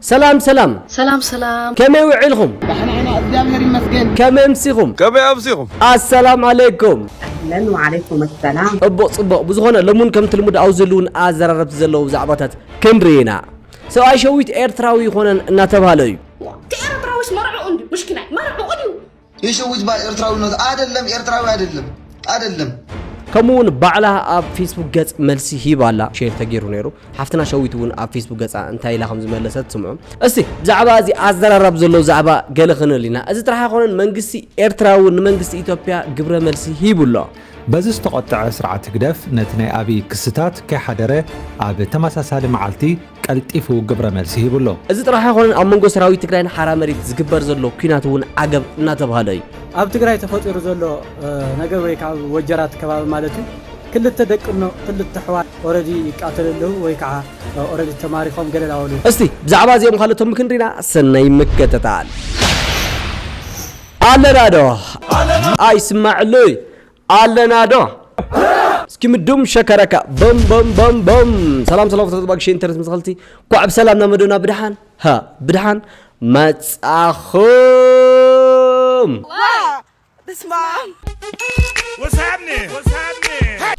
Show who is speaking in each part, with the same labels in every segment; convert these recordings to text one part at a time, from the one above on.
Speaker 1: ሰላም ሰላም ሰላም ሰላም
Speaker 2: ከመይ ውዒልኹም
Speaker 1: ዳሕና ኢና እግዚኣብሔር
Speaker 3: ይመስገን። ከመይ ኣምሲኹም
Speaker 1: ከመይ ኣምሲኹም ኣሰላም ዓለይኩም ኣህለን ወዓለይኩም
Speaker 4: ኣሰላም። ኡቡቕ ጽቡቕ ብዝኾነ
Speaker 1: ሎሙን ከምቲ ልሙድ ኣውዝሉን ኣዘራረብቲ ዘለዉ ዛዕባታት ክንርኢ ኢና ሰብኣይ ሸዊት ኤርትራዊ ይኾነን እናተብሃለ እዩ። ኤረትራዊስ
Speaker 2: መርዕኡ እንድዩ ምሽኪናይ መርዕኡ ድዩ የሸውጅ ባይ
Speaker 3: ኤርትራዊነት ኣደለም ኤርትራዊ ኣደለም ኣደለም። ከምኡ እውን
Speaker 1: ባዕላ ኣብ ፌስቡክ ገጽ መልሲ ሂብ ኣላ ሼር ተገይሩ ነይሩ ሓፍትና ሸዊት እውን ኣብ ፌስቡክ ገጻ እንታይ ኢላ ከም ዝመለሰት ስምዑ እስቲ ብዛዕባ እዚ ኣዘራራብ ዘሎ ዛዕባ ገለ ክንብል ኢና እዚ ጥራሕ ኣይኮነን መንግስቲ ኤርትራ እውን ንመንግስቲ ኢትዮጵያ ግብረ መልሲ ሂቡ ኣሎ በዚ
Speaker 5: ዝተቖጠዐ ስርዓት ህግደፍ ነቲ ናይ ኣብይ ክስታት ከይሓደረ ኣብ ተመሳሳሊ መዓልቲ ቀልጢፉ ግብረ መልሲ ሂቡ ኣሎ። እዚ ጥራሕ ኣይኮነን ኣብ
Speaker 1: መንጎ ሰራዊት ትግራይን ሓራ መሬት ዝግበር ዘሎ ኲናት እውን ዓገብ እናተብሃለ እዩ። ኣብ ትግራይ ተፈጢሩ
Speaker 6: ዘሎ ነገር ወይ ከዓ ኣብ ወጀራት ከባቢ ማለት እዩ ክልተ ደቅኖ ክልተ ኣሕዋት ኦረዲ ይቃተሉ ኣለዉ ወይ ከዓ ኦረዲ ተማሪኾም ገለ ናበሉ እስቲ ብዛዕባ እዚኦም
Speaker 1: ካልኦትን ምክንሪና ሰናይ ምክትታል። ኣለና ዶ ኣይስማዕሉይ ኣለና ዶ እስኪ ምዱም ሸከረካ በም በም በም በም ሰላም ሰላም ፍትረት ባግሽ ኢንተርስ ምስኸልቲ ኳዕ ብሰላም ናብ መደና ብድሓን ሃ ብድሓን መጻኹም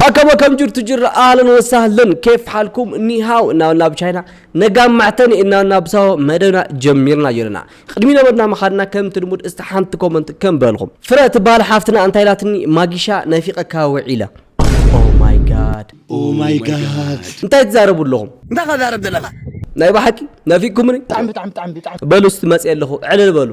Speaker 1: ኣከመ ከም ጅርቱ ጅራ ኣህለን ወሳህለን ኬፍ ሓልኩም ኒሃው እናበልና ብቻይና ነጋ ማዕተኒ እናበልና ብሳሆ መደብና ጀሚርና ኣለና ቕድሚ ነበድና ምኻድና ከምቲ ልሙድ እስቲ ሓንቲ ኮመንት ከም በልኹም። ፍረ ትባሃል ሓፍትና እንታይ ኢላትኒ ማጊሻ ናፊቀካ ውዒለ። ኦው ማይ ጋድ ኦው ማይ ጋድ እንታይ ትዛረቡ ኣለኹም። እንታይ ኢኻ ትዛረብ ዘለኻ።
Speaker 3: ናይ ብሓቂ
Speaker 1: ናፊቅኩምኒ
Speaker 3: በሉ እስቲ
Speaker 1: መፅየ ኣለኹ ዕልል በሉ።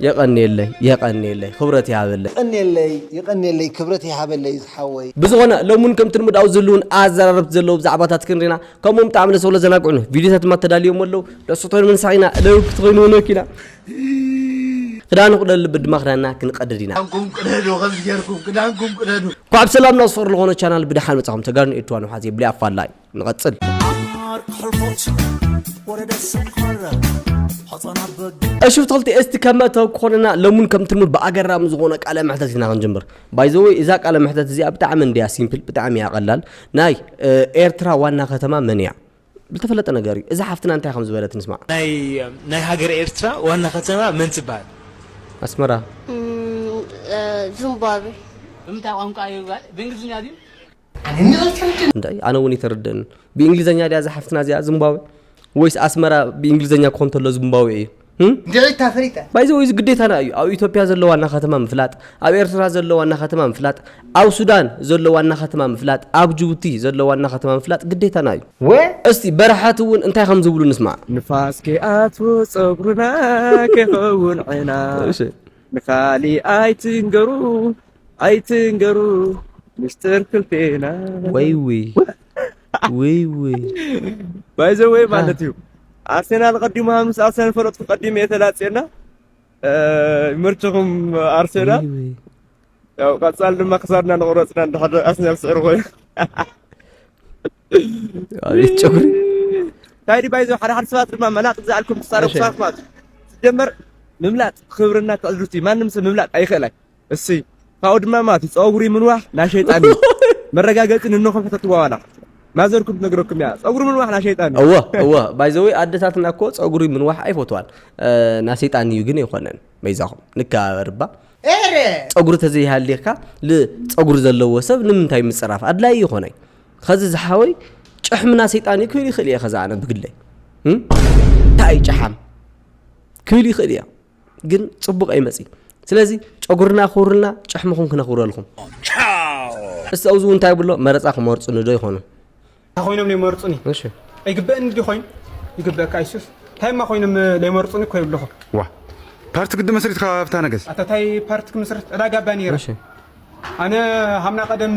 Speaker 1: የቐንየለይ የቐንየለይ ኽብረት ይሃበለይ። የቀንየለይ የቀንየለይ
Speaker 3: ክብረት ይሃበለይ ዝሓወይ። ብዝኾነ ሎሚ ውን ከምቲ
Speaker 1: ልሙድ ኣብ ዝህልውን ኣዘራረብቲ ዘለዉ ብዛዕባታት ክንሪና ከምኡም ጣዕሚ ደስ ብሎ ዘናግዑ ነው ቪዲዮታት ድማ ተዳልዮም ኣለው ንዕሶቶን ምንሳዕ ኢና እለው ክትኾይኑ ውነክ ኢና ክዳኑ ቅደሉ ብድማ ክዳንና ክንቀድድ ኢና ክዳንኩም ቅደዱ ከምዚ ጌርኩም ክዳንኩም ቅደዱ ኳዕ ብሰላም ናብ ዝፈር ዝኾነ ቻናል ብድሓን መጻኹም ተጋሩ ንኤርትራ ንውሓት የብሊ ኣፋላይ ንቐጽል እሹፍ ተኽልቲ እስቲ ከመተው ክኾነና ለሙን ከምትልሙድ ብኣገራሚ ዝኾነ ቃለ መሕተት ኢና ክንጅምር ባይ ዘ ወይ እዛ ቃለ መሕተት እዚኣ ብጣዕሚ እንድያ ሲምፕል ብጣዕሚ እያ ቀላል ናይ ኤርትራ ዋና ከተማ መን እያ ዝተፈለጠ ነገር እዩ እዛ ሓፍትና እንታይ ከም ዝበለት ንስማዕ ናይ ሃገረ
Speaker 7: ኤርትራ ዋና ከተማ መን ትበሃል ኣስመራ
Speaker 2: ዝምባብዌ ብምንታይ ቋንቋ
Speaker 7: እዩ ጓል ብእንግሊዝኛ ድዩ
Speaker 1: እንታይ ኣነ እውን ይተርደኒ ብእንግሊዘኛ ድያ እዛ ሓፍትና እዚኣ ዝምባዌ ወይስ ኣስመራ ብእንግሊዘኛ ክኾ እንተሎ ዝምባዌ እዩ ድዒታ
Speaker 3: ፈሪጠ ባይዘ ወይ ግዴታና እዩ
Speaker 1: ኣብ ኢትዮጵያ ዘሎ ዋና ከተማ ምፍላጥ ኣብ ኤርትራ ዘሎ ዋና ከተማ ምፍላጥ ኣብ ሱዳን ዘሎ ዋና ከተማ ምፍላጥ ኣብ ጅቡቲ ዘሎ ዋና ከተማ ምፍላጥ ግዴታና እዩ ወ እስቲ በረሓት እውን እንታይ ከም ዝብሉ ንስማዕ ንፋስ ከይኣትዎ
Speaker 6: ፀጉርና ከይኸውን ዕና ንካሊእ ኣይትንገሩ ኣይትንገሩ ምስጢር ክልቴና ወይ ውይ ውይ ውይ ባይዘወይ ማለት እዩ ኣርሴናል ቀዲሙ ምስ ኣርሰናል ፈለጥኩ ቀዲሙ እየ ተላፅየና ይመርችኹም ኣርሴናል ያው ቀፃል ድማ ክሳድና ንቑረፅና እንድሕር ኣርሴናል ስዕሪ ኮይኑ
Speaker 1: ኣቤት ጨጉሪ እንታይ
Speaker 6: ድዩ ባይዞ ሓደ ሓደ ሰባት ድማ መላጥ ዝኣልኩም ትጻረፉ እሺ። ሰባት ማለት እዩ። ሲጀመር ምምላጥ ክብርና ትዕዝብቲ እዩ። ማንም ሰብ ምምላጥ ኣይኽእላይ እሲ ካብኡ ድማ ማለት እዩ ፀጉሪ ምንዋሕ ናይ ሸይጣን እዩ መረጋገፂ ንነኹም ሕተትዋ ዋላ ማዘርኩም ትነግረኩም እያ ፀጉሪ ምንዋሕ ናይ ሸይጣን እዩ እወ እወ ባይዘወ
Speaker 1: ኣደታትና እኮ ፀጉሪ ምንዋሕ ኣይፈትዋን እ፣ ናይ ሰይጣን እዩ ግን ኣይኮነን መይዛኹም ንከባበር እባ ኤረ ፀጉሪ ተዘይሃልየካ ፀጉሪ ዘለዎ ሰብ ንምንታይ ምፅራፍ ኣድላይ ይኾነይ ኸዚ ዝሓወይ ጭሕምና ሰይጣን እዩ ክብል ይኽእል እየ ከዛ ኣነ ብግለይ እንታይ እዩ ጨሓም ክብል ይኽእል እያ ግን ፅቡቕ ኣይመፅ ስለዚ ጨጉርና ክውርልና ጭሕምኹም ክነኽብረልኩም እስቲ ኣብዚ እውን እንታይ ብሎ መረፃ ክመርፁኒ ዶ ይኾኑ እንታይ ኮይኖም
Speaker 6: ይመርፁኒ ኣይግበእኒ ዲ ኮይኑ ይግበእካ ይሱስ እንታይ ማ ኮይኖም ለይመርፁኒ እኮ ይብልኹ ዋ
Speaker 8: ፓርቲ ግዲ መስሪትካ ኣብታ ነገስ ኣታታይ ፓርቲ
Speaker 6: ክምስርት ዕዳጋ ባኒራ ኣነ ሃም ናይ ቀደም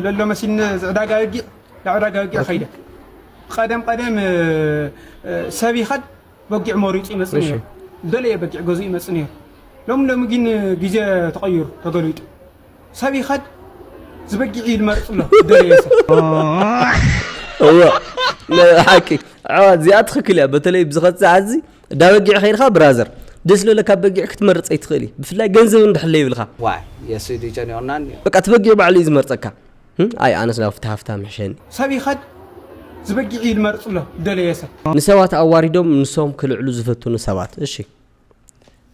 Speaker 6: ለሎ መሲልኒ ዝዕዳጋ የጊዕ ላዕዳጋ የጊዕ ኸይደ ቐደም ቐደም ሰብ ይኸድ በጊዕ መሪፁ ይመፅ ነይሩ ደለየ በጊዕ ገዙ ይመፅ ነይሩ ሎም ሎሚ ግን ግዜ ተቐይሩ ተገሊጡ ሰብ ይኸድ ዝበጊዕ እዩ ዝመርፅ ኣሎ ደለየ ሰብ
Speaker 1: እወ ሓቂ ዓዋት እዚኣ ትኽክል እያ በተለይ ብዝኸት ሰዓት እዚ ዳበጊዕ ከይድካ ብራዘር ደስ ልበለ ካብ በጊዕ ክትመርፅ ኣይትክእል እዩ ብፍላይ ገንዘብ እንድሕለ ይብልካ ዋይ የሱይ ድዩ
Speaker 9: ጨኒቁናን እዩ። በቃ እቲ በጊዕ
Speaker 1: ባዕሉ እዩ ዝመርፀካ እም ኣይ ኣነስ ናብቲ
Speaker 9: ሃፍታም
Speaker 1: ይሕሸኒ። ሰብ
Speaker 6: ይኸድ
Speaker 9: ዝበጊዕ እዩ ዝመርፅ ኣሎ ዝደለዮ ሰብ። ንሰባት ኣዋሪዶም
Speaker 1: ንሶም ክልዕሉ ዝፈትኑ ሰባት እሺ።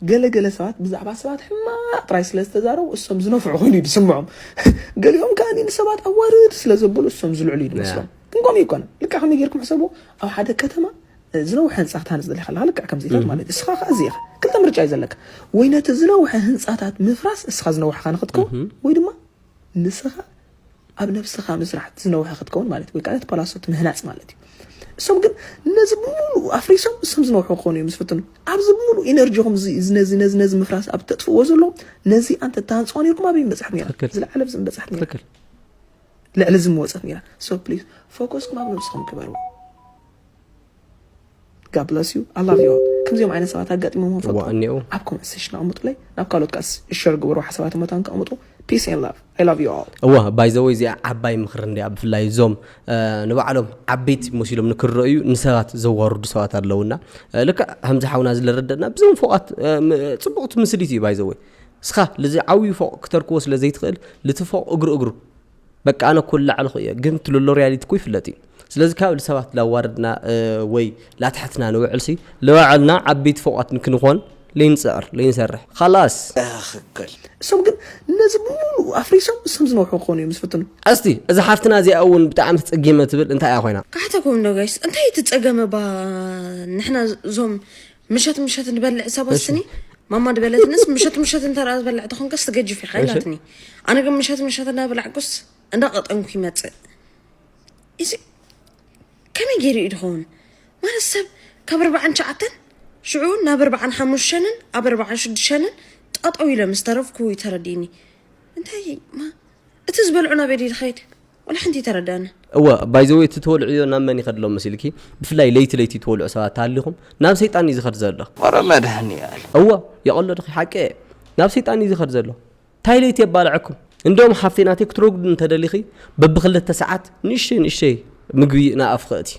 Speaker 1: ገለ
Speaker 10: ገለ ሰባት ብዛዕባ ሰባት ሕማቕ ጥራይ ስለ ዝተዛረቡ እሶም ዝነፍዑ ኮይኑ እዩ ዝስምዖም። ገሊኦም ከኣ ንሰባት ኣዋርድ ስለ ዘበሉ እሶም ዝልዕሉ እዩ ዝመስሎም። ግን ከምኡ ኣይኮነን። ልክዕ ከመይ ጌርኩም ሕሰብዎ ኣብ ሓደ ከተማ ዝነውሐ ህንጻ ክትሃንጽ ደሊኻ ኣለኻ ልክዕ ከምዚታት ማለት እዩ እስኻ ከኣ እዚ ኢኻ ክልተ ምርጫ እዩ ዘለካ ወይ ነቲ ዝነውሐ ህንጻታት ምፍራስ እስኻ ዝነውሐኻ ንክትከውን ወይ ድማ ንስኻ ኣብ ነብስኻ ምስራሕ ዝነውሐ ክትከውን ማለት እዩ ወይ ከዓ ነቲ ፓላሶት ምህናጽ ማለት እዩ እሶም ግን ነዚ ብምሉእ ኣፍሪሶም እሶም ዝነውሑ ክኾኑ እዮም ዝፍትኑ ኣብዚ ብምሉእ ኢነርጂኹም ነዚ ነዚ ነዚ ምፍራስ ኣብ ተጥፍዎ ዘሎ ነዚ ኣንተ ተሃንፅዋ ነርኩም ኣበይ ምበፅሐት ነራ ዝለዓለ ብዚ ምበፅሐት ነራ ልዕሊ እዚ ምወፀት ነራ ሶ ፕሊዝ ፎከስኩም ኣብ ነብስኹም ግበርዎ God bless you. I love you all. ከምዚኦም ዓይነት ሰባት ኣጋጢሞም እዋ ፈልጥኩም እኔዉ ኣብ ኮመንት ሴሽን ኣቕምጡለይ ናብ ካልኦት ከኣ ሸር ግበሩ ሓሳባትን መታን ከቕምጡ ፒስ ኤን ላቭ I love you all እዋ ባይዘወይ እዚኣ
Speaker 1: ዓባይ ምኽሪ እንድያ ብፍላይ እዞም እ፣ ንባዕሎም ዓበይቲ መሲሎም ንክረእዩ ንሰባት ዘዋርዱ ሰባት ኣለውና እ፣ ልክዕ ከምዚ ሓውና ዝለረደና ብዞም ፎቓት እ፣ ም- ፅቡቕቲ ምስሊት እዩ ባይዘወይ እስኻ ልዚ ዓብዩ ፎቕ ክተርክቦ ስለ ዘይትኽእል ልቲ ፎቕ እግሩ እግሩ በቃ ኣነ እኮ ላዕልኹ እየ ግን ትልሎ ሪያሊቲ እኮ ይፍለጥ እዩ ስለዚ ካብ ልሰባት ላዋርድና ወይ ላትሕትና ንውዕልሲ ልባዕልና ዓበይቲ ፎቋት ንክንኾን ለይንፅዕር ለይንሰርሕ ኻላስ እኽክል
Speaker 10: እሶም ግን ነዚ ብምሉኡ ኣፍሪሶም እሶም ዝነውሑ ክኾኑ እዮም ዝፍትኑ እስቲ እዛ ሓፍትና
Speaker 1: እዚኣ እውን ብጣዕሚ ተፀጊመ ትብል እንታይ እያ ኮይና ካሕተኩም ዶ ጋይስ እንታይ
Speaker 2: ትፀገመ ባ ንሕና እዞም ምሸት ምሸት ንበልዕ ሰብ ወስኒ ማማ ድበለትንስ ምሸት ምሸት እንተ ዝበልዕ ተኾንከስ ትገጅፍ ኢኻ ኢላትኒ ኣነ ግን ምሸት ምሸት እናበላዕኩስ እንዳቐጠንኩ ይመፅእ እዚ ከመይ ገይሩ እዩ ድኸውን ማለት ሰብ ካብ ኣርባዓን ሸዓተን ሽዑ ናብ ኣርባዓን ሓሙሽተንን ኣብ ኣርባዓን ሽዱሸንን ጠጠው ኢለ ምስ ተረፍኩ ተረዲኒ እንታይ እቲ ዝበልዑ ናበይ ድዩ ድኸይድ ዋላ ሓንቲ ኣይተረደኣንን። እወ ባይ ዘ ዌይ እቲ
Speaker 1: ትወልዕዮ ናብ መን ይኸድሎ መሲልኪ ብፍላይ ለይቲ ለይቲ ትወልዑ ሰባት ተሃሊኹም ናብ ሰይጣን እዩ ዝኸድ ዘሎ። ኧረ መድሀኒኣለም።
Speaker 6: እወ የቀሎ ድኺ
Speaker 1: ሓቂ እየ ናብ ሰይጣን እዩ ዝኸድ ዘሎ ታይ ለይቲ የባልዐኩም እንደውም ሓፍተይ ናተይ ክትረጉዲ እንተደሊኺ በብክልተ ሰዓት ንእሽተይ ንእሽተይ ምግቢ ናብ ኣፍኺ እእትይ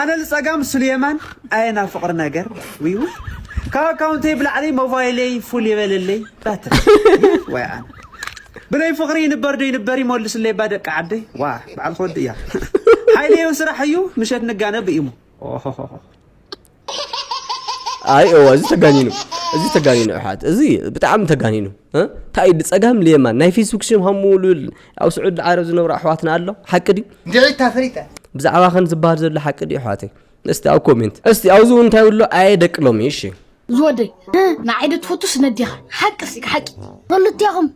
Speaker 5: ኣነ ልጸጋም ሱልየማን ኣየ ናብ ፍቅሪ ነገር ውይ ውይ ካብ ኣካውንተይ ብላዕሊ ሞባይለይ ፉል የበለለይ ባትሪ ወይ ኣነ ብለይ ፍቅሪ ይንበር ዶ ይንበር ይመልስለይ ባ ደቂ ዓደይ ዋ በዓል ክወድ እያ ሓይለዮ ስራሕ እዩ ምሸት ንጋነ ብኢሙ ኦሆሆሆ
Speaker 1: ኣይ እወ እዚ ተጋኒኑ እዚ ተጋኒኑ ኣሕዋት እዚ ብጣዕሚ ተጋኒኑ እንታይ እዩ ፀጋም ልየማን ናይ ፌስቡክ ሽም ሃሙሉል ኣብ ስዑድ ዓረብ ዝነብሩ ኣሕዋትና ኣሎ ሓቂ ድዩ ንዒታ ፈሪጠ
Speaker 3: ብዛዕባ ከን ዝበሃል
Speaker 1: ዘሎ ሓቂ ድዩ ኣሕዋተይ እስቲ ኣብ ኮሜንት እስቲ ኣብዚ እውን እንታይ ብሎ ኣየ ደቂ ሎሚ እሺ ዝወደይ
Speaker 2: ንዓይዶ ትፈቱ ስነዴኻ ሓቂ ሲ ሓቂ ክልቴኹም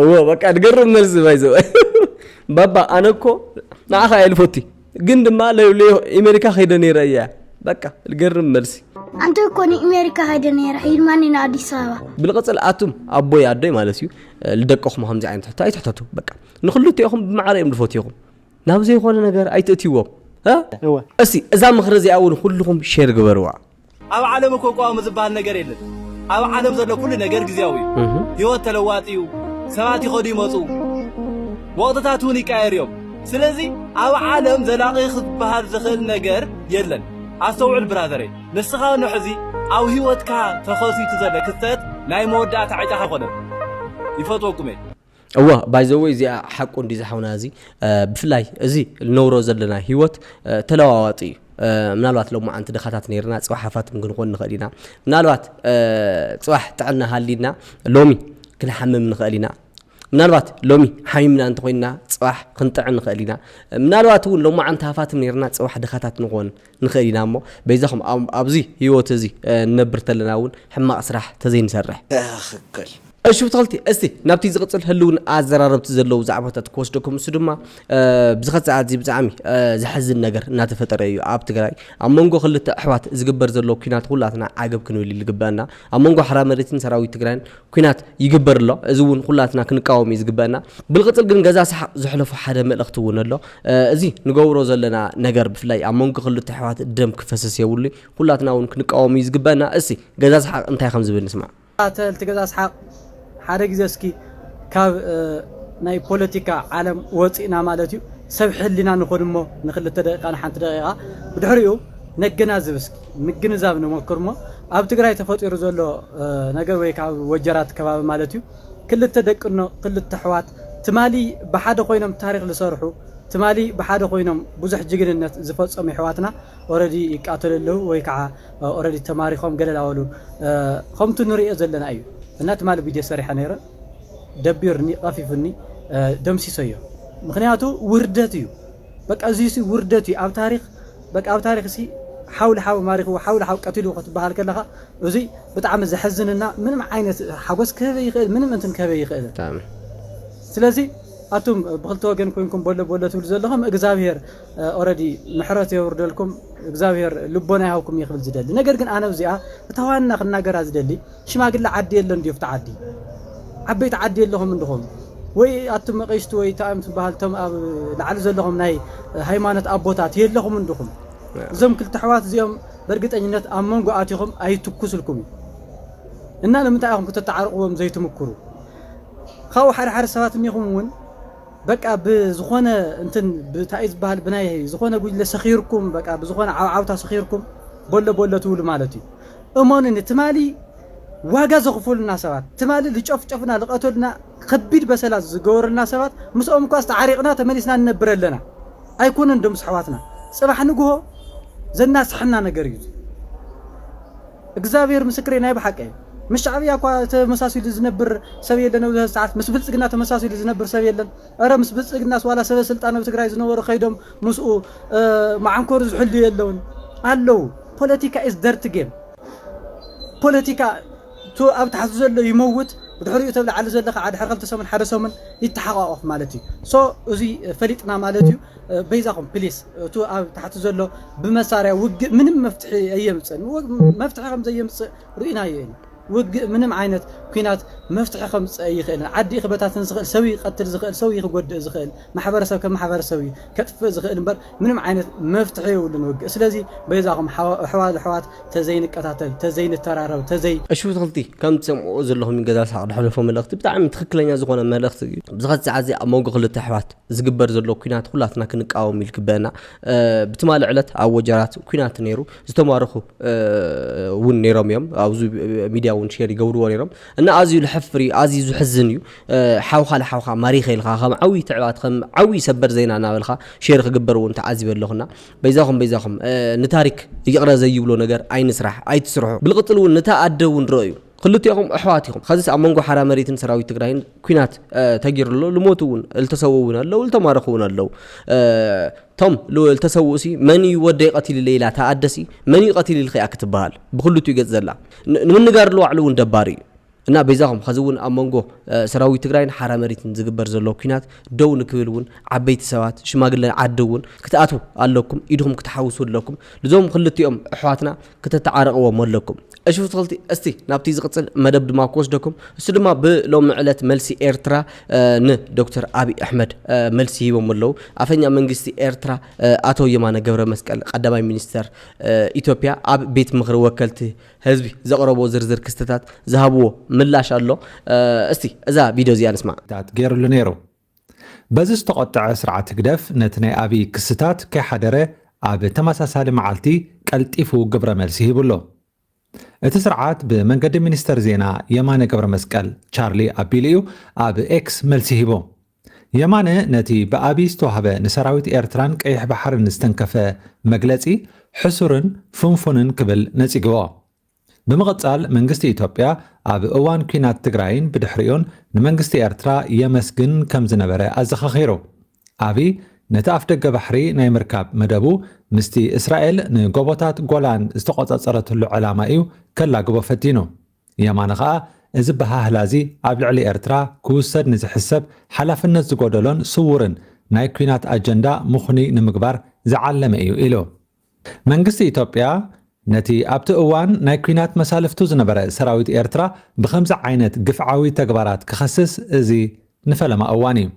Speaker 1: እዎ በቃ ድገርም መልሲ ባይዘው ባባ ኣነ እኮ ንዓኻ እየ ልፈቲ ግን ድማ ኣሜሪካ ከይደ ነይረ እያ በቃ ልገርም መልሲ ኣንተ እኮ
Speaker 11: ንኣሜሪካ ከይደ ነይረ ሂድማኒ ንኣዲስ ኣበባ ብልቕፅል ኣቱም
Speaker 1: ኣቦይ ኣዶይ ማለት እዩ ልደቅኹም ከምዚ ዓይነት ሕቶ ኣይትሕተቱ በቃ ንክልቲኦኹም ብማዕረ እዮም ልፈትኹም ናብ ዘይኮነ ነገር ኣይትእትዎም እስቲ እዛ
Speaker 6: ምኽሪ
Speaker 1: እዚኣ እውን ኩልኹም ሼር ግበርዋ ኣብ ዓለም
Speaker 6: እኮ ቋሚ ዝበሃል ነገር የለን። ኣብ ዓለም ዘሎ ኩሉ ነገር ግዝያዊ እዩ። ህይወት ተለዋጢ እዩ። ሰባት ይኸዱ ይመፁ፣ ወቕትታት እውን ይቀያየሩ እዮም። ስለዚ ኣብ ዓለም ዘላቒ ክበሃል ዝኽእል ነገር የለን። ኣስተውዕል ብራዘረይ፣ ንስኻ ውን ሕዚ ኣብ ህይወትካ ተኸሲቱ ዘሎ ክስተት ናይ መወዳእታ ዕጫኻ ኣይኮነን። ይፈትወኩም እየ። እወ
Speaker 1: ባይ ዘ ወይ እዚኣ ሓቁ እንድዩ ዝሓውና እዚ ብፍላይ እዚ ነብሮ ዘለና ሂወት ተለዋዋጢ እዩ ምናልባት ሎማዓንቲ ድኻታት ነርና ፅባሕ ሃፋትም ክንኾን ንኽእል ኢና ምናልባት ፅባሕ ጥዕና ሃሊና ሎሚ ክንሓምም ንኽእል ኢና ምናልባት ሎሚ ሓሚምና እንተኮይንና ፅባሕ ክንጥዕን ንኽእል ኢና ምናልባት እውን ሎማዓንቲ ሃፋትም ነርና ፅባሕ ድኻታት ንኾን ንኽእል ኢና እሞ በይዛኹም ኣብዚ ህይወት እዚ ንነብር ተለና እውን ሕማቕ ስራሕ ተዘይንሰርሕ። ትኽክል።
Speaker 5: እሺ ብትኽልቲ
Speaker 1: እስቲ ናብቲ ዝቕጽል ህልውን ኣዘራረብቲ ዘለዉ ዛዕባታት ክወስደኩም እሱ ድማ ብዝኸት ሰዓት እዚ ብጣዕሚ ዘሕዝን ነገር እናተፈጠረ እዩ ኣብ ትግራይ ኣብ መንጎ ክልተ ኣሕዋት ዝግበር ዘሎ ኩናት ኩላትና ዓገብ ክንብል ልግበአና ኣብ መንጎ ሓራ መሬትን ሰራዊት ትግራይን ኩናት ይግበር ኣሎ እዚ ውን ኩላትና ክንቃወም እዩ ዝግበእና ብልቅፅል ግን ገዛ ሰሓቅ ዘሕለፎ ሓደ መልእክቲ ውን ኣሎ እዚ ንገብሮ ዘለና ነገር ብፍላይ ኣብ መንጎ ክልተ ኣሕዋት ደም ክፈስስ የብሉይ ኩላትና ውን ክንቃወም እዩ ዝግበእና እሲ ገዛ ሰሓቅ እንታይ ከም ዝብል ንስማዕ። ተከታተልቲ ገዛ ሰሓቅ
Speaker 12: ሓደ ግዜ እስኪ ካብ ናይ ፖለቲካ ዓለም ወፂእና ማለት እዩ ሰብ ሕሊና ንኩን እሞ ንክልተ ደቂቃ ንሓንቲ ደቂቃ ብድሕሪኡ ነገናዝብ እስኪ። ምግንዛብ ንሞክር እሞ ኣብ ትግራይ ተፈጢሩ ዘሎ ነገር ወይ ከዓ ኣብ ወጀራት ከባቢ ማለት እዩ ክልተ ደቅኖ ክልተ ኣሕዋት ትማሊ ብሓደ ኮይኖም ታሪክ ዝሰርሑ ትማሊ ብሓደ ኮይኖም ብዙሕ ጅግንነት ዝፈፀሙ ኣሕዋትና ኦረዲ ይቃተሉ ኣለዉ ወይ ከዓ ኦረዲ ተማሪኮም ገለ ላበሉ ከምቱ ንሪኦ ዘለና እዩ እና ትማሊ ቪድዮ ሰሪሐ ነይረ ደቢርኒ ቀፊፉኒ ደምሲሰዮ ምክንያቱ ውርደት እዩ በቃ እዚሲ ውርደት እዩ ኣብ ታሪኽ በቃ ኣብ ታሪኽ እሲ ሓው ንሓው ማሪኽዎ ሓው ንሓው ቀቲልዎ ክትበሃል ከለኻ እዙይ ብጣዕሚ ዘሕዝንና ምንም ዓይነት ሓጎስ ክህበ ይኽእል ምንም እንትን ክህበ ይኽእል ስለዚ ኣቱም ብክልተ ወገን ኮንኩም በሎ በሎ ትብሉ ዘለኹም እግዚኣብሄር ኦረዲ ምሕረት የውርደልኩም እግዚኣብሄር ልቦና ይሃብኩም እየ ክብል ዝደሊ ነገር ግን ኣነ እዚኣ እታ ዋና ክናገራ ዝደሊ ሽማግለ ዓዲ የለን ድዩ ኣብቲ ዓዲ? ዓበይቲ ዓዲ የለኹም እንድኹም ወይ ኣቱም ኣቐሽቲ ወይ ታእዮም ትበሃል እቶም ኣብ ላዕሊ ዘለኹም ናይ ሃይማኖት ኣቦታት የለኹም እንድኹም እዞም ክልተ ኣሕዋት እዚኦም በርግጠኝነት ኣብ መንጎ ኣቲኹም ኣይትኩስልኩም እዩ እና ንምንታይ ኢኹም ክተተዓርቕዎም ዘይትምክሩ ካብኡ ሓደ ሓደ ሰባት እኒኹም እውን በቃ ብዝኾነ እንትን ብታይ ዝበሃል ብናይ ዝኾነ ጉጅለ ሰኺርኩም በቃ ብዝኾነ ዓውዓውታ ሰኺርኩም ቦሎ ቦሎ ትብሉ ማለት እዩ እመኑኒ ትማሊ ዋጋ ዘኽፈሉና ሰባት ትማሊ ልጨፍጨፉና ልቐተሉና ኸቢድ በሰላ ዝገበሩልና ሰባት ምስኦም እኳስ ተዓሪቕና ተመሊስና ንነብር ኣለና ኣይኮነን ዶ ምስ ኣሕዋትና ፅባሕ ንግሆ ዘናስሐና ነገር እዩ እዚ እግዛብሄር ምስክረይ ናይ ብሓቂ ምስ ሻዕብያ እኳ ተመሳሲሉ ዝነብር ሰብ የለን ኣብዚ ሐዚ ሰዓት ምስ ብልፅግና ተመሳሲሉ ዝነብር ሰብ የለን እረ ምስ ብልፅግናስ ዋላ ሰበ ስልጣን ኣብ ትግራይ ዝነበሩ ከይዶም ምስኡ መዓንኮሩ ዝሕልዩ የለውን ኣለዉ ፖለቲካ ኢዝ ደርቲ ጌም ፖለቲካ እቲ ኣብ ታሕቲ ዘሎ ይመውት ብድሕሪኡ እቲ ኣብ ላዕሊ ዘሎ ከዓ ድሕሪ ክልተ ሰሙን ሓደ ሰሙን ይተሓቋቆፍ ማለት እዩ ሶ እዙይ ፈሊጥና ማለት እዩ በይዛኹም ፕሊስ እቲ ኣብ ታሕቲ ዘሎ ብመሳርያ ውግእ ምንም መፍትሒ ኣየምፅእን መፍትሒ ከም ዘየምፅእ ርኢናዮ ኢና ውግእ ምንም ዓይነት ኩናት መፍትሒ ከምፅእ ኣይኽእልን ዓዲ ክበታትን ዝኽእል ሰብ ይቀትል ዝኽእል ሰብ ክጎድእ ዝኽእል ማሕበረሰብ ከም ማሕበረሰብ እዩ ከጥፍእ ዝኽእል እምበር ምንም ዓይነት መፍትሒ የብሉን ውግእ ስለዚ በይዛኹም ኣሕዋት ኣሕዋት ተዘይ ንቀታተል ተዘይ ንተራረብ ተዘይ። እሺ ብትክልቲ ከም
Speaker 1: ትሰምዕዎ ዘለኹም ዩ ገዛ ስሓቅ ድሕለፎ መልእኽቲ ብጣዕሚ ትክክለኛ ዝኾነ መልእኽቲ ዩ ኣብዚ ኸዚ ሰዓት እዚ ኣብ ሞንጎ ክልተ ኣሕዋት ዝግበር ዘሎ ኩናት ኩላትና ክንቃወም ዩ ልግበእና ብትማሊ ዕለት ኣብ ወጀራት ኩናት ነይሩ ዝተማረኹ ውን ነይሮም ዮም ኣብዚ ሚድያ ውን ሼር ይገብርዎ ነይሮም እና ኣዝዩ ልሕፍር ዩ ኣዝዩ ዝሕዝን ዩ ሓውካ ንሓውካ ማሪኸ ኢልካ ከም ዓብይ ትዕባት ከም ዓብይ ሰበር ዜና እናበልካ ሼር ክግበር እውን ተዓዚበ ኣለኹና በይዛኹም በይዛኹም ንታሪክ ይቕረ ዘይብሎ ነገር ኣይንስራሕ ኣይትስርሑ ብልቕፅል እውን ንታ ኣደ እውን ረእዩ ክልቲኦም ኣሕዋት ኢኹም ኸዚስ ኣብ መንጎ ሓራ መሬትን ሰራዊት ትግራይን ኩናት ተጊሩ ኣሎ ልሞቱ እውን እልተሰውኡ እውን ኣለው እልተማረኹ እውን ኣለው ቶም እልተሰውኡ ሲ መን እዩ ወደይ ቀቲሉ ኢላ እታ ኣደሲ መን እዩ ቀቲሉ ኢልኺ እያ ክትበሃል ብክልቲኡ ገፅ ዘላ ንምንጋር ዝዋዕሉ እውን ደባሪ እዩ እና በይዛኹም ኸዚ እውን ኣብ መንጎ ሰራዊት ትግራይን ሓራ መሬትን ዝግበር ዘሎ ኩናት ደው ንክብል እውን ዓበይቲ ሰባት ሽማግለ ዓዲ እውን ክትኣትዉ ኣለኩም ኢድኹም ክትሓውሱ ኣለኩም ልዞም ክልቲኦም ኣሕዋትና ክተተዓረቕዎም ኣለኩም እሺ ፍትክልቲ እስቲ ናብቲ ዝቕፅል መደብ ድማ ክወስደኩም እሱ ድማ ብሎሚ ዕለት መልሲ ኤርትራ ን ዶክተር ኣብይ ኣሕመድ መልሲ ሂቦም ኣለዉ ኣፈኛ መንግስቲ ኤርትራ ኣቶ የማነ ገብረ መስቀል ቀዳማይ ሚኒስተር ኢትዮጵያ ኣብ ቤት ምኽሪ ወከልቲ ህዝቢ ዘቕረቦ ዝርዝር ክስትታት ዝሃብዎ ምላሽ ኣሎ እስቲ እዛ ቪድዮ እዚኣ ንስማዕ። ታት ገይሩሉ ነይሩ።
Speaker 13: በዚ ዝተቖጠዐ ስርዓት ህግደፍ ነቲ ናይ ኣብይ ክስታት ከይሓደረ ኣብ ተመሳሳሊ መዓልቲ ቀልጢፉ ግብረ መልሲ ሂቡሉ። እቲ ስርዓት ብመንገዲ ሚኒስተር ዜና የማነ ገብረመስቀል፣ ቻርሊ፣ ኣቢሉ እዩ ኣብ ኤክስ መልሲ ሂቡ። የማነ ነቲ ብኣቢይ ዝተዋህበ ንሰራዊት ኤርትራን ቀይሕ ባሕርን ዝተንከፈ መግለጺ ሕሱርን ፍንፉንን ክብል ነጺግዎ። ብምቕጻል መንግስቲ ኢትዮጵያ ኣብ እዋን ኲናት ትግራይን ብድሕሪኡን ንመንግስቲ ኤርትራ የመስግን ከም ዝነበረ ኣዘኻኺሩ። ኣቢይ ነቲ ኣፍደገ ባሕሪ ናይ ምርካብ መደቡ ምስቲ እስራኤል ንጎቦታት ጎላን ዝተቖጻጸረትሉ ዕላማ እዩ ከላግቦ ፈቲኑ። የማነ ከኣ እዚ ኣበሃህላ'ዚ ኣብ ልዕሊ ኤርትራ ክውሰድ ንዝሕሰብ ሓላፍነት ዝጎደሎን ስዉርን ናይ ኲናት ኣጀንዳ ምኽኑይ ንምግባር ዝዓለመ እዩ ኢሉ። መንግስቲ ኢትዮጵያ ነቲ ኣብቲ እዋን ናይ ኲናት መሳልፍቱ ዝነበረ ሰራዊት ኤርትራ ብኸምዚ ዓይነት ግፍዓዊ ተግባራት ክኸስስ እዚ ንፈለማ እዋን እዩ።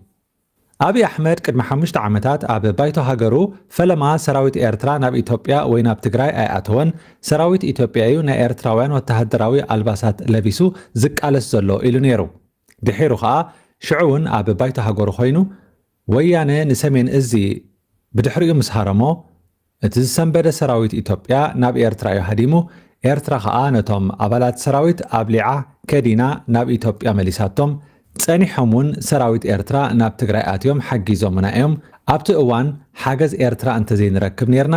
Speaker 13: ኣብይ ኣሕመድ ቅድሚ ሓሙሽተ ዓመታት ኣብ ባይቶ ሃገሩ ፈለማ ሰራዊት ኤርትራ ናብ ኢትዮጵያ ወይ ናብ ትግራይ ኣይኣተወን፣ ሰራዊት ኢትዮጵያ እዩ ናይ ኤርትራውያን ወተሃደራዊ ኣልባሳት ለቢሱ ዝቃለስ ዘሎ ኢሉ ነይሩ። ድሒሩ ከኣ ሽዑ'ውን ኣብ ባይቶ ሃገሩ ኮይኑ ወያነ ንሰሜን እዚ ብድሕሪኡ ምስ ሃረሞ እቲ ዝሰንበደ ሰራዊት ኢትዮጵያ ናብ ኤርትራ እዩ ሃዲሙ፣ ኤርትራ ከኣ ነቶም ኣባላት ሰራዊት ኣብሊዓ ከዲና ናብ ኢትዮጵያ መሊሳቶም፣ ጸኒሖም ውን ሰራዊት ኤርትራ ናብ ትግራይ ኣትዮም ሓጊዞሙና እዮም፣ ኣብቲ እዋን ሓገዝ ኤርትራ እንተዘይንረክብ ኔርና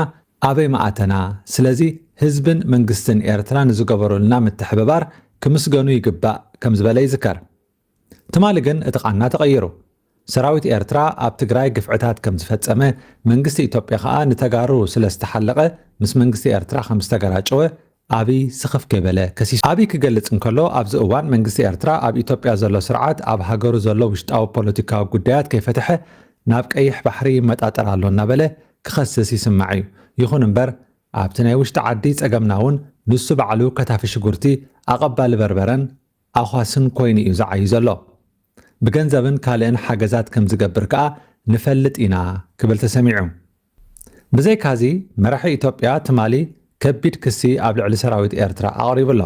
Speaker 13: ኣበይ ምኣተና፣ ስለዚ ህዝብን መንግስትን ኤርትራ ንዝገበሩልና ምትሕብባር ክምስገኑ ይግባእ ከምዝበለ ይዝከር። ትማሊ ግን እቲ ቃና ተቐይሩ። ሰራዊት ኤርትራ ኣብ ትግራይ ግፍዕታት ከም ዝፈጸመ፣ መንግስቲ ኢትዮጵያ ከኣ ንተጋሩ ስለ ዝተሓለቐ ምስ መንግስቲ ኤርትራ ከም ዝተገራጨወ ኣብይ ስኽፍ ከይበለ ከሲሱ። ኣብይ ክገልጽ እንከሎ ኣብዚ እዋን መንግስቲ ኤርትራ ኣብ ኢትዮጵያ ዘሎ ስርዓት ኣብ ሃገሩ ዘሎ ውሽጣዊ ፖለቲካዊ ጉዳያት ከይፈተሐ ናብ ቀይሕ ባሕሪ ይመጣጠር ኣሎ እናበለ ክኸስስ ይስማዕ እዩ። ይኹን እምበር ኣብቲ ናይ ውሽጢ ዓዲ ጸገምና'ውን ንሱ ባዕሉ ከታፊ ሽጉርቲ፣ ኣቐባሊ በርበረን፣ ኣዃስን ኮይኑ እዩ ዝዓዩ ዘሎ። ብገንዘብን ካልእን ሓገዛት ከም ዝገብር ከኣ ንፈልጥ ኢና ክብል ተሰሚዑ። ብዘይካዚ መራሒ ኢትዮጵያ ትማሊ ከቢድ ክሲ ኣብ ልዕሊ ሰራዊት ኤርትራ ኣቕሪቡ ኣሎ።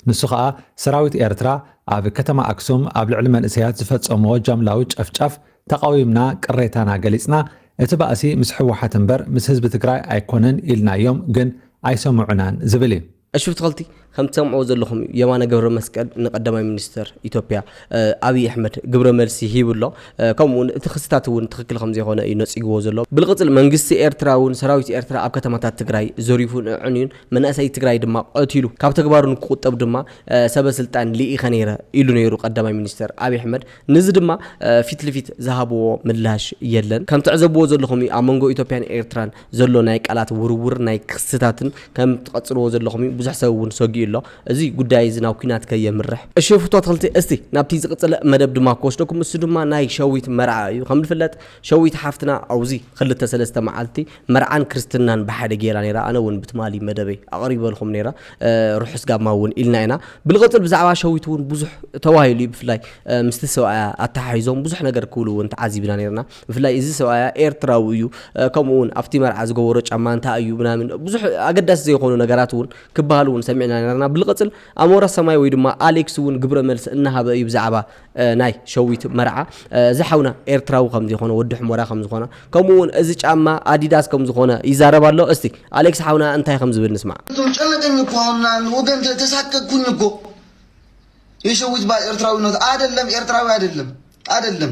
Speaker 13: ንሱ ከኣ ሰራዊት ኤርትራ ኣብ ከተማ ኣክሱም ኣብ ልዕሊ መንእሰያት ዝፈጸምዎ ጃምላዊ ጨፍጫፍ ተቓዊምና ቅሬታና ገሊጽና እቲ ባእሲ ምስ ሕወሓት እምበር ምስ ህዝቢ ትግራይ ኣይኮነን ኢልናዮም ግን ኣይሰምዑናን ዝብል እዩ። ዕሽው ተኸልቲ ከም
Speaker 1: ትሰምዕዎ ዘለኹም እዩ የማነ ገብረመስቀል ንቀዳማይ ሚኒስተር ኢትዮጵያ ኣብይ ኣሕመድ ግብረ መልሲ ሂቡ ኣሎ። ከምኡ እውን እቲ ክስታት እውን ትኽክል ከም ዘይኮነ እዩ ነጺግዎ ዘሎ። ብልቕጽል መንግስቲ ኤርትራ እውን ሰራዊት ኤርትራ ኣብ ከተማታት ትግራይ ዘሪፉን ኣዕንዩን መናእሰይ ትግራይ ድማ ቐቲሉ ካብ ተግባሩ ንክቑጠብ ድማ ሰበ ስልጣን ልኢኸ ነይረ ኢሉ ነይሩ ቀዳማይ ሚኒስተር ኣብይ ኣሕመድ ንዚ ድማ ፊት ልፊት ዝሃብዎ ምላሽ የለን። ከም ትዕዘብዎ ዘለኹም እዩ ኣብ መንጎ ኢትዮጵያን ኤርትራን ዘሎ ናይ ቃላት ውርውር ናይ ክስታትን ከም ትቀጽልዎ ዘለኹም እዩ ብዙሕ ሰብ እውን ሰጊኡ ኣሎ እዚ ጉዳይ እዚ ናብ ኩናት ከየምርሕ። እሺ ፍቶ ኣትክልቲ እስቲ ናብቲ ዝቅጽለ መደብ ድማ ክወስደኩም እሱ ድማ ናይ ሸዊት መርዓ እዩ ከም ዝፍለጥ ሸዊት ሓፍትና ኣውዚ ክልተ ሰለስተ መዓልቲ መርዓን ክርስትናን ብሓደ ጌራ ኔራ ኣነ እውን ብትማሊ መደበይ ኣቅሪበልኹም ኔረ ርሑስ ጋማ እውን ኢልና ኢና ብልቅጽል ብዛዕባ ሸዊት እውን ብዙሕ ተባሂሉ እዩ ብፍላይ ምስቲ ሰብኣያ ኣተሓሒዞም ብዙሕ ነገር ክብሉ እውን ተዓዚብና ኔርና ብፍላይ እዚ ሰብኣያ ኤርትራዊ እዩ ከምኡ ውን ኣብቲ መርዓ ዝገበሮ ጫማ እንታይ እዩ ምናምን ብዙሕ ኣገዳሲ ዘይኮኑ ነገራት እውን ክበሃሉ እውን ሰሚዕና ነርና ብልቕፅል ኣሞራ ሰማይ ወይ ድማ ኣሌክስ እውን ግብረ መልሲ እናሃበ እዩ ብዛዕባ ናይ ሸዊት መርዓ እዚ ሓውና ኤርትራዊ ከም ዘይኮነ ወዲ ሕሞራ ከም ዝኾነ ከምኡ ውን እዚ ጫማ ኣዲዳስ ከም ዝኾነ ይዛረብ ኣሎ እስቲ ኣሌክስ ሓውና እንታይ ከም ዝብል ንስማዕ ጨነቀኝ እኮ
Speaker 3: አሁን ምናምን ወገን ተሳቀቅኩኝ እኮ የሸዊት ባል ኤርትራዊነት አይደለም፣ ኤርትራዊ አይደለም አይደለም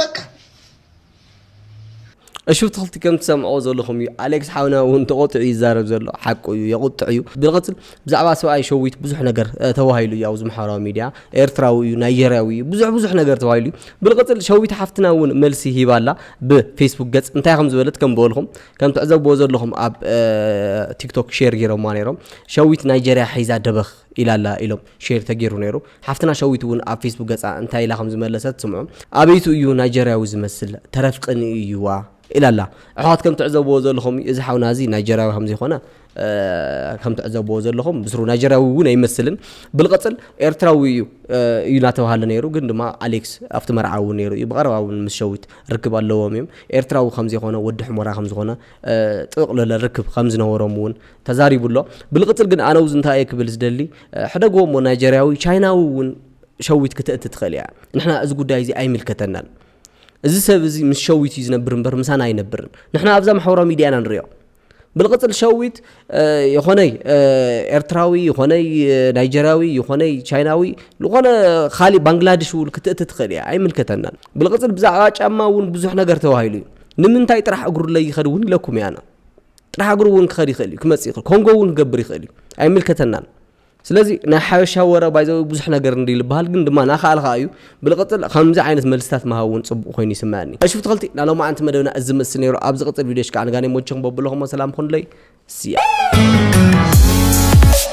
Speaker 3: በቃ
Speaker 1: እሹ ትኽልቲ ከም ትሰምዖ ዘለኹም እዩ ኣሌክስ ሓውና እውን ተቆጥዑ ይዛረብ ዘሎ ሓቁ እዩ የቁጥዕ እዩ ብንቕፅል ብዛዕባ ሰብኣይ ሸዊት ብዙሕ ነገር ተባሂሉ እዩ ኣብዚ ማሕበራዊ ሚድያ ኤርትራዊ እዩ ናይጀርያዊ እዩ ብዙሕ ብዙሕ ነገር ተባሂሉ እዩ ብንቕፅል ሸዊት ሓፍትና እውን መልሲ ሂባ ኣላ ብፌስቡክ ገፅ እንታይ ከም ዝበለት ከም በልኹም ከም ትዕዘብዎ ዘለኹም ኣብ ቲክቶክ ሼር ገይሮማ ነይሮም ሸዊት ናይጀርያ ሒዛ ደበኽ ኢላ ኣላ ኢሎም ሼር ተጌሩ ነይሩ ሓፍትና ሸዊት እውን ኣብ ፌስቡክ ገፃ እንታይ ኢላ ከምዝመለሰት ስምዑ ኣበይቱ እዩ ናይጀርያዊ ዝመስል ተረፍ ቅንኢ እዩዋ ኢላ ኣላ ኣሕዋት ከም ትዕዘብዎ ዘለኹም እዚ ሓውና እዚ ናይጀርያዊ ከምዘይኮነ ከም ትዕዘብዎ ዘለኹም ብስሩ ናይጀርያዊ እውን ኣይመስልን ብልቐፅል ኤርትራዊ እዩ እዩ እናተባሃለ ነይሩ ግን ድማ ኣሌክስ ኣብቲ መርዓ እውን ነይሩ እዩ ብቐረባ እውን ምስ ሸዊት ርክብ ኣለዎም እዮም ኤርትራዊ ከምዘይኮነ ወዲ ሕሞራ ከምዝኾነ ጥቕልለ ርክብ ከምዝነበሮም እውን ተዛሪቡ ኣሎ። ብልቕጽል ግን ኣነው እንታይ እየ ክብል ዝደሊ ሕደግዎ እሞ ናይጀርያዊ ቻይናዊ እውን ሸዊት ክተእቲ ትኽእል እያ። ንሕና እዚ ጉዳይ እዚ ኣይምልከተናን። እዚ ሰብ እዚ ምስ ሸዊት እዩ ዝነብር እምበር ምሳና ኣይነብርን። ንሕና ኣብዛ ማሕበራዊ ሚድያ ኢና ንሪኦ። ብልቕጽል ሸዊት ይኾነይ ኤርትራዊ ይኾነይ ናይጀርያዊ ይኾነይ ቻይናዊ ዝኾነ ካሊእ ባንግላድሽ እውን ክትእቲ ትኽእል እያ ኣይምልከተናን ብልቕጽል ብዛዕባ ጫማ እውን ብዙሕ ነገር ተባሂሉ እዩ ንምንታይ ጥራሕ እግሩ ለይኸድ እውን ኢለኩም እያና ጥራሕ እግሩ እውን ክኸድ ይኽእል እዩ ክመፅእ ይኽእል ኮንጎ እውን ክገብር ይኽእል እዩ ኣይምልከተናን ስለዚ ናይ ሓበሻ ወረ ባይዘዊ ብዙሕ ነገር እንዲ ዝበሃል ግን ድማ ናኸኣል ከዓ እዩ ብልቕፅል ከምዚ ዓይነት መልስታት ምሃብ እውን ፅቡቕ ኮይኑ ይስምዐኒ እሹፍ ተኸልቲ ናይ ሎማዓንቲ መደብና እዚ ዝመስል ነይሩ ኣብ ዝቕፅል ቪድዮሽ ከዓ ንጋኔ ሞቸኹም በብለኹሞ ሰላም ኹንለይ ስያ